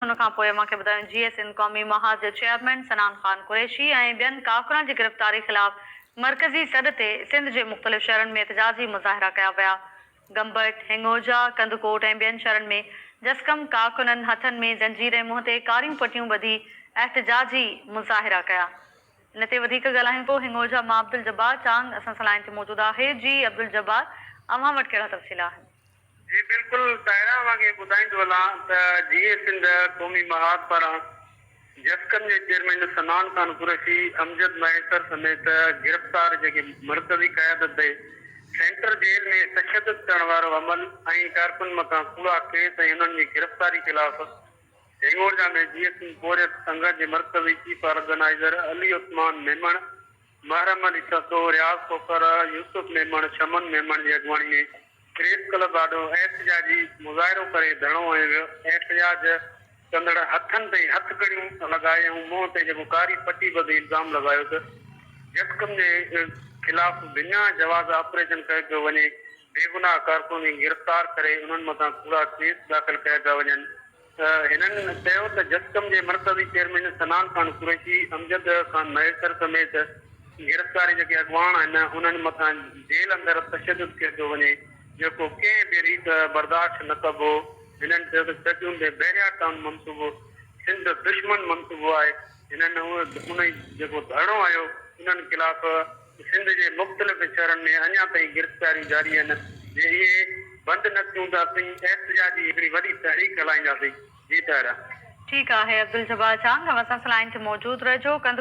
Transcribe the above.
ان کان پوء مان کي ٻڌايو جي اي سنڌ قومي محاذ جو چيئرمين سنان خان قريشي ۽ ٻين ڪافرن جي گرفتاري خلاف مرڪزي سڏ تي سنڌ جي مختلف شھرن ۾ احتجاجي مظاھرا ڪيا ويا گمبٽ، ھنڱوجا، ڪنڌڪوٽ ۽ ٻين شھرن ۾ جسقم ڪارڪنن ھٿن ۾ زنجير ۽ منهن تي ڪاريون پٽيون ٻڌي احتجاجي مظاھرا ڪيا ان تي وڌيڪ ڳالھايون ٿو ھنڱوجا مان عبدالجبار چانگ اسان سان لائين تي موجود آھي جي عبدالجبار اوھان وٽ ڪھڙا تفصيل آھن. جي بلڪل طاهرا وانگي ٻڌائيندو هلان ته جيئي سنڌ قومي محاذ پاران جسقم جي چيئرمين صنعان خان قريشي، امجد مهيسر سميت گرفتار جيڪي مرڪزي قيادت به سينٽر جيل ۾ تشدد ڪرڻ وارو عمل ۽ ڪارڪن مٿان ڪوڙا ڪيس ۽ انهن جي گرفتاري خلاف هيڱورجا ۾ جيئي سنڌ پورهيت سنگهه جي مرڪزي چيف آرگنائيزر علي عثمان ميمڻ، محرم علي سسو، رياض کوکر، يوسف ميمڻ، شمن ميمڻ جي اڳواڻي ۾ پريس ڪلب آڏو احتجاجي مظاهرو ڪري ڌرڻو هنيو ويو، احتجاج ڪندڙن هٿن تي هٿڪڙيون لڳائي ۽ منهن تي جيڪو ڪاري پٽي ٻڌي الزام لڳايو ته جسقم جي خلاف بنا جواز آپريشن ڪيو پيو وڃي، بيگناهه ڪارڪنن کي گرفتار ڪري انهن مٿان ڪوڙا ڪيس داخل ڪيا پيا وڃن. هنن چيو ته جسقم جي مرڪزي چيئرمين سنان خان قريشي، امجد خان مهيسر سميت گرفتار جيڪي اڳواڻ آهن انهن مٿان جيل اندر تشدد ڪيو پيو وڃي جيڪو ڪنهن به ريت برداشت نه ڪبو، هنن چيو ته چچون تي بحريا ٽائون منصوبو سنڌ دشمن منصوبو آهي، هنن انهي جيڪو ڌرڻو هنيو انهن خلاف. سنڌ جي مختلف شھرن ۾ اڃا تائين گرفتاريون جاري آھن، جي اھي بند نه ٿيون ته اسين احتجاج جي ھڪڙي وڏي تحريڪ ھلائينداسين، جي طاھره. ٺيڪ آھي عبدالجبار چانگ اوھان سان سلائن تي موجود رھجو.